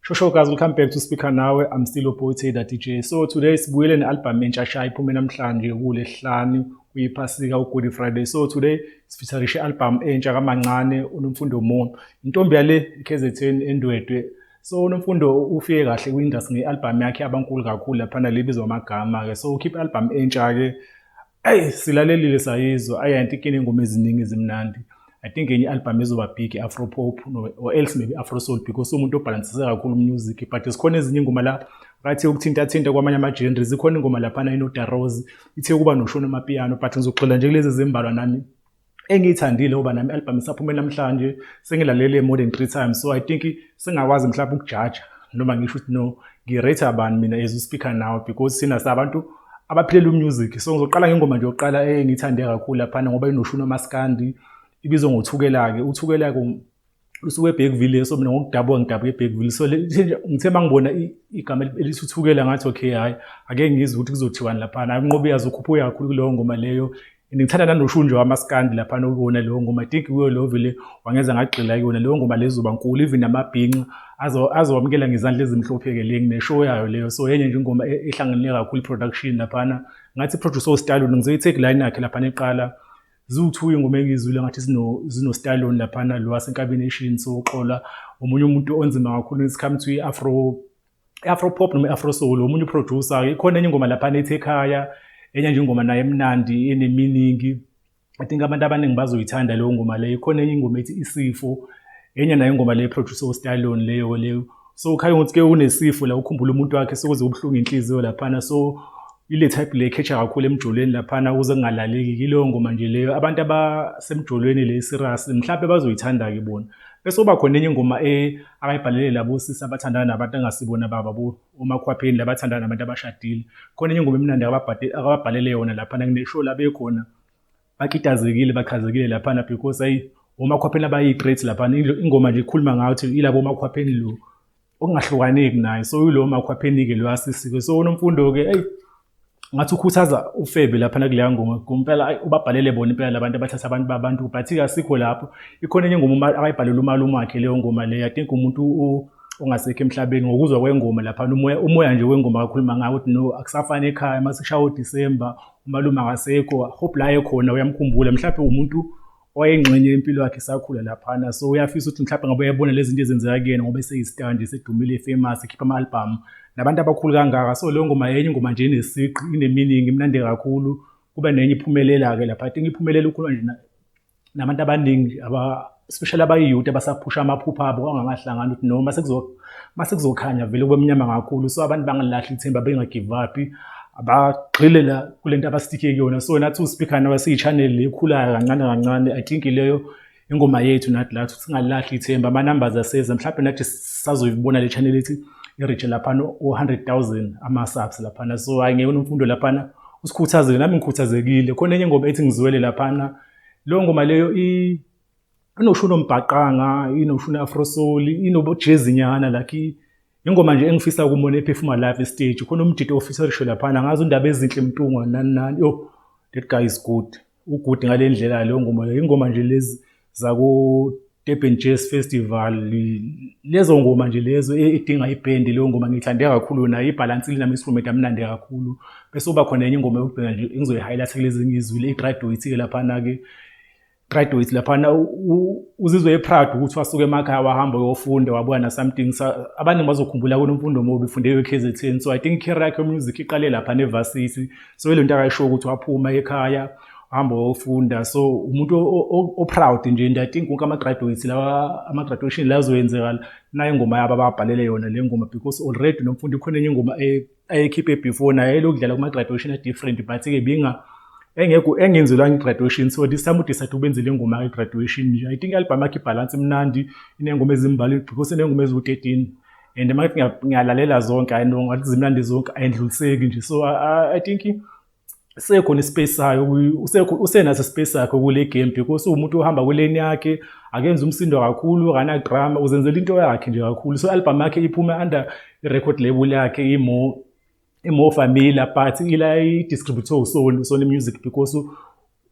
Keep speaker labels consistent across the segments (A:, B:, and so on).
A: Shosho guys, welcome back to Speaker Nawe. I'm still your boy Taylor DJ. So today sibuyele ne-album entsha shaya iphume namhlanje kuLesihlanu kuyiphasika uGood Friday. So today sifitharishe i-album entsha kaMancane uNomfundo Mono. Intombi yale iKZN endwedwe so unomfundo ufike kahle kwi-industry nge-albhamu yakhe abankulu kakhulu laphana libizwa amagama-ke so ukhiphe i-albhamu entsha-ke eyi silalelile sayizwa ayi anti kini ingoma eziningi ezimnandi i think enye i-albhamu ezoba big i-afropop or else maybe afro soul because umuntu obhalansise kakhulu umusic but zikhona ezinye ingoma la bathe ukuthintathinta kwamanye ama-genre zikhona ingoma laphana inodarose ithe ukuba noshona amapiano but ngizoxela nje kulezi ezimbalwa nami engiyithandile ngoba nami album isaphume namhlanje sengilalele more than 3 times so i think singakwazi mhlawumbe ukujaja noma ngisho ukuthi no ngirate abantu mina as u speaker now because sina sabantu abaphilela umusic so ngizoqala ngengoma nje yokuqala engiyithande kakhulu laphana ngoba inoshuni omaskandi ibizwa ngothukelake uthukela lusuke eBergville so mina ngokudabuka ngidabuka eBergville so ngithe mangibona igama elisuthukela ngathi okay hayi ake ngizwe ukuthi kuzothiwani lapha hayi unqobe yazi ukhuphuka kakhulu kuleyo ngoma leyo ngithanda nanoshunje wamaskandi lapha nokuyona leyo ngoma i think kuyo leyo vele wangenza ngagxila kuyona leyo ngoma lezoba nkulu even amabhinqa azowamukela ngezandla ezimhlophe-ke le ngineshow yayo leyo so yenye nje ingoma e-, ehlanganele kakhulu i-production laphana ngathi i-producer ostalon ngizoyi-take line yakhe laphana eqala ziwu-two ingoma engiyizwile ngathi zino-stylon laphana lo wasenkabini eshini soxola omunye umuntu onzima kakhulu it's come to i-afro i-afro pop noma i-afro soul omunye uproducer ikhona enye ingoma laphana ethi ekhaya enye nje ingoma naye emnandi eneminingi i think abantu abaningi bazoyithanda leyo ngoma leyo ikhona enye ingoma ethi isifo enye nayo ingoma leyo producer uStalone leyo leyo so ukhaya ukuthi ke unesifo la ukhumbula umuntu wakhe sokuze ubuhlungu inhliziyo laphana so ile type le catch kakhulu emjolweni laphana ukuze kungalaleki kileyo ngoma nje leyo abantu abasemjolweni le serious mhlawumbe bazoyithanda ke bona bese uba khona enye ingoma e akayibhalele labo sisi abathandana nabantu angasibona baba bo omakhwapheni labathandana nabantu abashadile khona enye ingoma emnandi akababhalele yona laphana kuneshow labekhona bakitazekile bachazekile laphana because ayi omakhwapheni abayi-great laphana ingoma nje ikhuluma ngayo ukuthi ilabo omakhwapheni lo okungahlukaneki naye so yilo makhwapheni-ke lo asisike so unomfundo-ke eyi ngathi ukhuthaza ufebe laphana kuleya ngoma kumpela ubabhalele bona impela labantu abathatha abantu babantu but-ke asikho lapho ikhona enye ngoma akayibhalele umalume wakhe leyo ngoma leyo i think umuntu ongasekho emhlabeni ngokuzwa kwengoma laphana umoya umoya nje wengoma kakhuluma ngayo ukuthi no akusafani ekhaya uma sishaya udisemba umalume akasekho hope la ekhona uyamkhumbula mhlawumbe umuntu oyengxenye yempilo yakhe isakhula laphana so uyafisa ukuthi mhlawumbe ngabe uyabona lezi zinto ezenzeka kuyena ngoba eseyistandi esedumile efamous ekhipha ama-albhamu nabantu abakhulu kangaka so leyo ngoma yenye ingoma nje inesiqi ineminingi imnandi kakhulu kuba nenye iphumelela-ke lapha i think iphumelele ukhuluma nje nabantu abaningi aba especially abayiyuti abasaphusha amaphupha abo kwangakahlangani ukuthi noma masekuzokhanya vele kube mnyama kakhulu so abantu bangalilahli ithemba bengagive up abagxile la kule nto abasitike kuyona so nathi uSpeaker nawe siyi-channel le ekhulayo kancane kancane i think leyo ingoma yethu nathi la ukuthi singalilahli ithemba ama-numbers aseza mhlawumbe nathi sazoyibona le channel ethi iritshe laphana o-hundred thousand ama-subs laphana so hhayi ngeyona imfundo laphana usikhuthazile nami ngikhuthazekile khona enye ingoma ethi ngizwele laphana leyo ngoma leyo inosho unombhaqanga inosho une-afrosoli inobojezinyana like ingoma nje engifisa kumona ephefuma live estage khona umdidi ofisa risho laphana ngazi undaba ezinhle mntungwa nani nani yo that guy is good ugood ngale ndlela leyo ngoma leyo ingoma nje lezi zako Durban Jazz Festival lezo ngoma nje lezo e, edinga ibhendi leyo ngoma ngiyithande kakhulu yona ibhalansi linami instrument amnandi kakhulu bese uba khona enye ingoma yokugcina nje engizoyi-highlight kulezi ngizwile i-graduate-ke laphana-ke graduate laphana uzizwe eproud ukuthi wasuke emakhaya wahamba uyofunda wabuya na something abaningi bazokhumbula kunomfundo mobi ufunde kwi-KZN so i think career yakhe music iqale lapha nevasisi so ilento akayisho ukuthi waphuma ekhaya hamba ofunda so umuntu o-proud nje and i think wonke ama-graduates lawa ama-graduation la azoyenzeka nayo ingoma yabo ababhalele yona le ngoma because already lo mfundi khona enye ingoma ayekhiphe before naye lokudlala kuma-graduation a-different but-ke binga engekho engenzelwanga i-graduation so this time udecide ukwenze le ngoma i-graduation nje i think i-album yakhe ibhalansi imnandi inengoma ezimbali because inengoma eziwu-13 and uma ngiyalalela zonke i know ngathi zimnandi zonke ayindluliseki nje so i think sekhona ispace sayo usenaso ispace sakhe kule game because uwumuntu ohamba kuleni yakhe akenza umsindo kakhulu akanadrama uzenzela into yakhe nje kakhulu so album yakhe iphume under record label yakhe imo imo familiar but ila i-distributor usoni usoni music because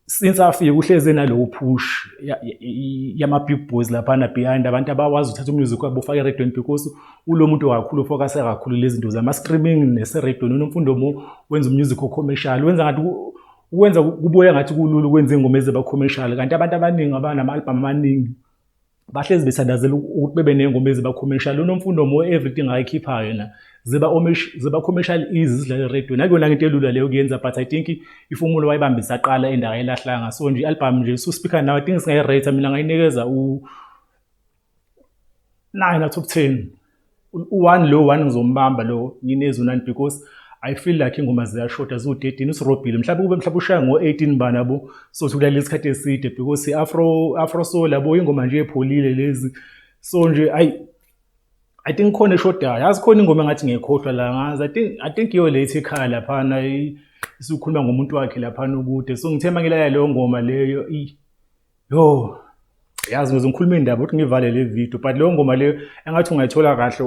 A: since afike uhleze nalowo push yama big boys laphana behind abantu abakwazi uthatha umusic wabo ufake eradweni because ulo muntu kakhulu ufocuse kakhulu lezi zinto zama streaming neseradweni unomfundo mo wenza umusic ocommercial wenza ngathi ukwenza kubuya ngathi kulula ukwenza ingoma ezeba commercial kanti abantu abaningi abanama album amaningi bahlezi bethandazela ukuthi bebe nengoma ezibakhomesha lo nomfundo mo everything ayikhiphayo yena ziba omish ziba commercial easy zidlala radio nakuyona ngento elula leyo kuyenza but i think ifumulo wayibambisa qala endawo elahlanga so nje album nje so speaker now i think singayi rate mina ngayinikeza u 9 out of 10 u-one lo one ngizombamba lo nginezwi nani because i feel like ingoma ziyashoda ziwu-13 usirobhile mhlawumbe kube mhlawumbe ushaya ngo-18 mbani yabo sothi ulalele isikhathi eside because i-afro afro soul yabo ingoma nje epholile lezi so nje ayi i think khona eshodayo yazi khona ingoma engathi ngiyekhohlwa la ngazi i think i think iyo le ithi ekhaya laphana isukhuluma ngomuntu wakhe laphana ukude so ngithemba ngilalele leyo ngoma leyo Yo, yazi ngize ngikhulume indaba ukuthi ngivale le video but leyo ngoma leyo engathi ungayithola kahle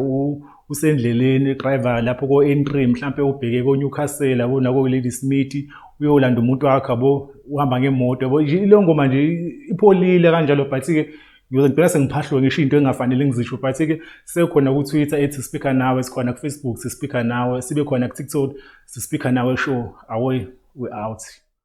A: usendleleni driver lapho ko entry mhlambe ubheke ko Newcastle yabo nako Lady Smith uyolanda umuntu wakhe yabo uhamba ngemoto yabo leyo ngoma nje ipholile kanjalo but ke ngiyoze ngibheka sengiphahlwe ngisho into engafanele ngizisho but ke sekukhona ku Twitter ethi speaker nawe sikhona ku Facebook sispika nawe sibe khona ku TikTok sispika nawe show away we out